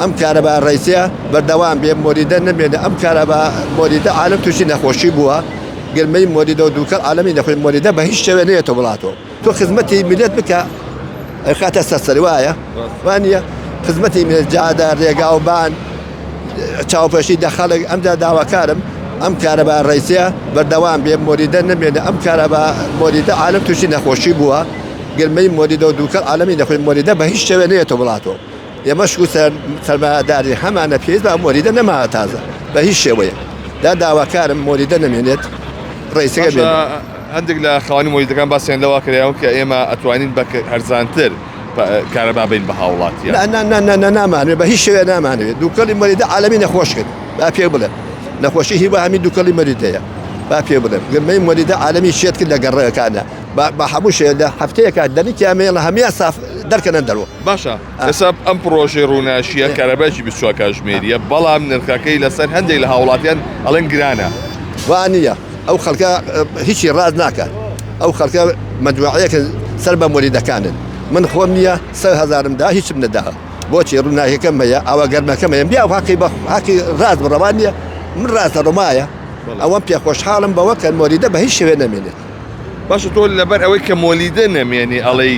ئەم کارە بە ڕێسیە بەردەوام بێ مۆریدە نەمێنە ئەم کارە بە مۆریدە عالم تووشی نەخۆشی بووە گرمەی مۆریدە و دووکەڵ عالمی نەخۆی مۆریدە بە هیچ شێوێ نێتە وڵاتەوە تۆ خزمەتی میلەت بکە خاتە سەسەر وایە وانە خزمەتی مێجادە ڕێگا و بان چاوپەشی دەخەڵک ئەمجا داواکارم ئەم کارە بە ڕێسیە بەردەوام بێ مۆریدە نەمێنە ئەم کارە بە مۆریدە عالم تووشی نەخۆشی بووە گرمەی مۆریدە و دووکەڵ عالمی نەخۆی مۆریدە بە هیچ شێوێ نێتە وڵاتەوە ئێمەش وتە سەرمایەداری هەمانە پێویست بە مۆریدە نەماوە تازە بە هیچ شێوەیە دا داواکارم مۆریدە نەمێنێت ڕێسەکە بێت. هەندێک لە خاوەنی مۆریدەکان باسیان لەوە کراوە کە ئێمە ئەتوانین بە هەرزانتر کارەبا بین بە هاوڵاتیان نامانێت بە هیچ شوێ نامانوێت دووکەڵی مەریدە عالمی نەخۆش کرد با پێ بڵێ نەخۆشی هی بە هەمی دووکەڵی مەریدەیە با پێ بڵێم گرمەی مەریدە عالمی شێت کرد لە گەڕەکانە بە هەموو شێ لە هەفتەیەکە دەنکیان مێڵە هەمیان ساف دەرکەنە دەرەوە باشە ئێستا ئەم پڕۆژەی ڕووناشیە کارەبایکی 24 کاژمێریە بەڵام نرخەکەی لەسەر هەندێک لە هاوڵاتیان ئەڵێن گرانە وانە ئەو خەڵکە هیچی ڕاز ناکە ئەو خەڵکە مەدوعەیەکە سەر بە مۆریدەکانن من خۆم نییە سە هزارم دا هیچم نەدا بۆچی ڕووناکەکەم هەیە ئاوا گەرمەکەم هەیە بیا هاقی بە هاقی ڕاز بڕەوان نیە من ڕاستە ڕۆمایە ئەوەم پێ خۆشحاڵم بەوە کە مۆریدە بە هیچ شوێ نەمێنێت باشە تۆ لەبەر ئەوەی کە مۆلیدە نەمێنی ئەڵێی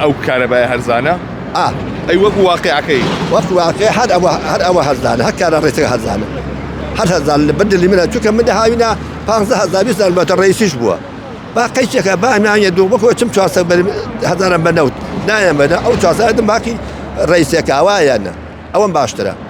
ئەو کارەبای هەرزانە؟ ئا ئەی وەکو واقعەکەی وەکو واقع هەر ئەوە هەر ئەوە هەرزانە هەر کارە ڕێسەکە هەرزانە هەر هەرزان لە بەدلی منە چونکە من هاوینا پازدە هەزار بیست هەزار بەتە ڕئیسیش بووە با قەیسێکە با ناویە دوو بەکۆ چم چوارسە هەزارم بە نەوت نایەمەدە ئەو چوارسەدم باقی ڕئیسێکاوایەنە ئەوەم باشترە